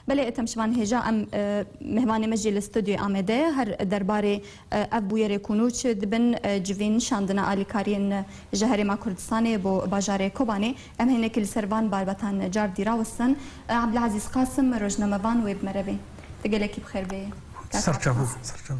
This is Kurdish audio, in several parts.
Belê Etem Şivan hêja em mihvanê me jî li studyoyê Amedê ye her derbarê ev bûyerê ku nû çi dibin civîn şandina alîkariyên ji herêma Kurdistanê bo bajarê Kobanê em hênekî li ser van barbetan car dî rawistin. Abdulazîz Qasim rojnamevan wê bi me re bê. Tu gelekî bi xêr bêyî kaka. Serçava serçava.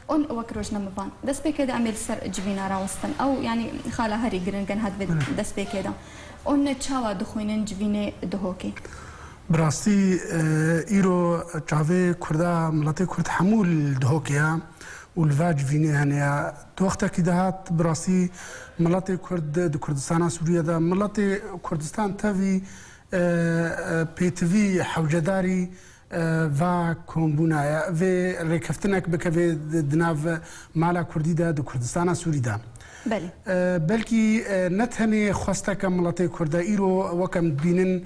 On wek rojnamevan destpêkê de em ê li ser civîna rawistin ew yanî xala herî girin gen hat vê destpêkê de on çawa dixwînin civînê Duhokê? Bi rastî îro çavê kurda miletê kurd hemû li dihokê ye û li va civînê hene ye. Di wextekî de hat bi rastî miletê kurd di Kurdistana Sûriyê de miletê Kurdistan tevî pêtivî hewcedarî va kombûna ye. Vê rêkeftinek bike vê di nav mala kurdî de di Kurdistana Sûrî de. Belê. Belkî ne tenê xwesteke miletê kurd e. Îro wek em dibînin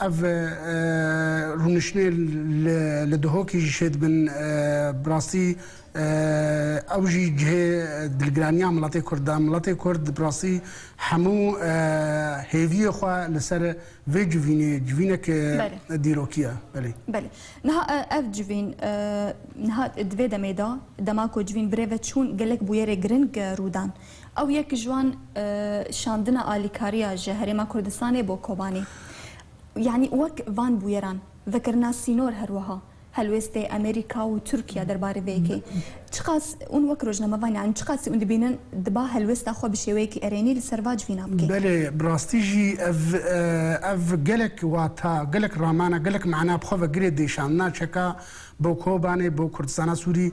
Ev rûniştinê li Dihokê jî şêdibin. Bi rastî ew jî cihê dilgiraniya miletê Kurd e. Miletê Kurd bi rastî hemû hêviyê xwe li ser vê civînê, civînek dîrokî ye. Belê. Belê. Niha ev civîn niha di vê demê de dema ku civîn bi rê ve çûn gelek bûyerê giring rû dan. Ew yek ji wan şandina alîkariya ji Herêma Kurdistanê bo Kobanê. Yanî wek van bûyeran vekirina sînor her wiha helwêstê Amerîka û Tirkiye derbarê vê yekê çiqas ûn wek rojnamevan yanî çiqasî ûn dibînin diba helwêsta xwe bi şêweyekî erênî li ser va civîna bike. Belê bi rastî jî ev ev gelek wata, gelek ramana, gelek mana bi xwe vegirê dê şandina çeka bo Kobanê, bo Kurdistana Sûrî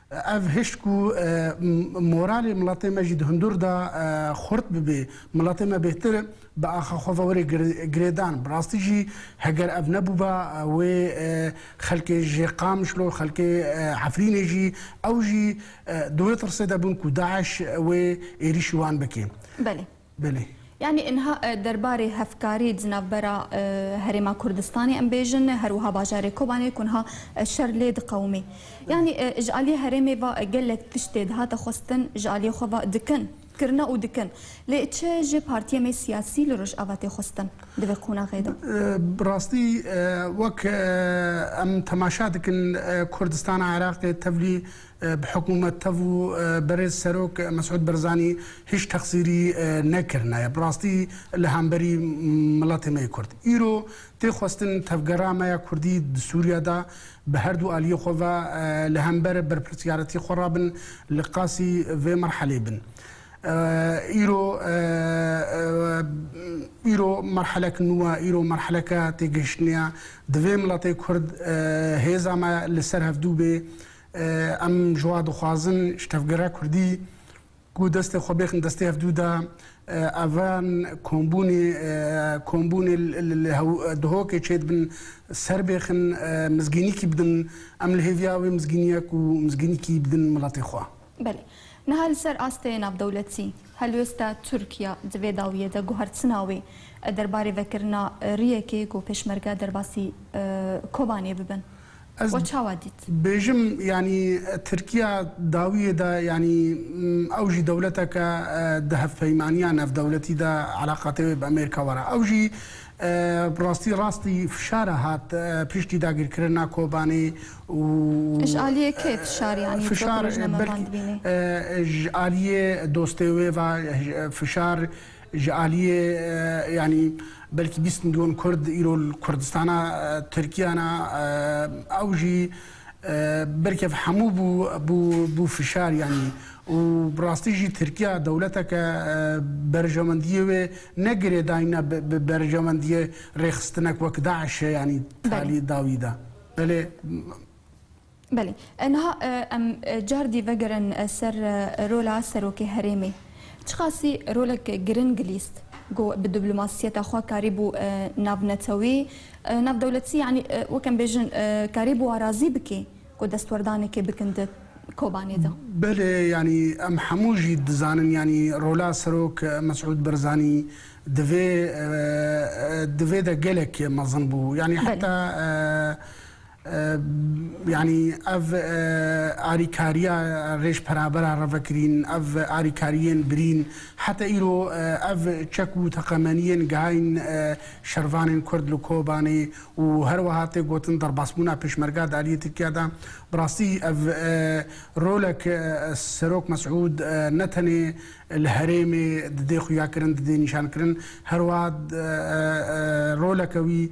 Ev hişt ku moralê miletê me jî di hundur de xurt bibê, miletê me bêhtir bi axa xwe ve were girêdan. Bi rastî jî heger ev nebûba wê xelkê ji Qamişlo, xelkê Efrînê jî ew jî di wê tirsê de bûn ku DAIŞ wê êrîşî wan bike. Belê. Belê. Yanî inha derbarê hevkarî di navbera Herêma Kurdistanê em bêjin her wiha bajarê Kobanê ku niha şer lê diqewimê. Yanî ji aliyê herêmê ve gelek tişt tê dihate xwestin ji aliyê xwe ve dikin, kirine û dikin. Lê çi ji partiyên me siyasî li Rojava tê xwestin di vê qonaxê de? Bi rastî wek em temaşe dikin Kurdistana Iraqê tevlî Bi hikûmet tev û berêz serok Mesûd Berzanî hîç texsîrî nekirinaye. Bi rastî li hemberî miletê me yê kurd. Îro tê xwestin tevgera me ya kurdî di Sûriye de bi her du aliyê xwe ve li hember berpirsyaretî xwe re bin li qasî vê merhelê bin. Îro îro merhelek nû e. Îro merheleke têgihiştinê ye. Divê miletê kurd hêza me li ser hevdu bê. Em ji wan dixwazin ji tevgera Kurdî ku destê xwe bêxin destê hev dû de evan kombûnê kombûnê li dihokê çêdibin ser bêxin mizgînîkî bidin. Em li hêviya wê mizgînîya ku mizgînîkî bidin miletê xwe. Belê. Niha li ser astê navdewletî, helwesta Tirkiya di vê dawiyê de guhertina wê e derbarê vekirina riyekê ku pêşmerge derbasî Kobanê bibin. Ez bêjim yanî Tirkiya dawiyê de yanî ew jî dewleteke di hevpeymaniya navdewletî de eleqatê wê bi Amerîka were. Ew jî bi rastî rastî fişare hat piştî dagîrkirina Kobanê û ji aliyê kê fişar yanî fişar ji aliyê dostê wê ve fişar Ji aliyê yanî belkî bîst milyon Kurd îro li Kurdistana Tirkiye ne, ew jî berkev hemû bû bû bû fişar yanî û bi rastî jî Tirkiya dewleteke berjewendiyê wê ne girêdayîne bi berjewendiyê rêxistinek wek DAIŞ'ê yanî talî da wî de. Belê. Belê. Niha em cardî vegerin ser rola Serokê Herêmê. Çiqasî rolek giring lîst ku bi diplomasiyeta xwe karîbû navnetewî, navdewletî yanî wek em bêjin karîbû wan razî bike ku destwerdanekê bikin di Kobanê de. Belê yanî em hemû jî dizanin yanî rola Serok Mesûd Berzanî di vê di vê de gelek mezin bû. Yanî heta Yanî ev alîkariya rêjperabera revekirîn, ev alîkariyên birîn heta îro ev çek û teqemeniyên gihayîn şervanên Kurd li Kobanê û her wiha tê gotin derbasbûna pêşmerga di aliyê Tirkiya de bi rastî ev rolek Serok Mesûd ne tenê li herêmê didê xuyakirin didê nîşankirin her wiha roleke wî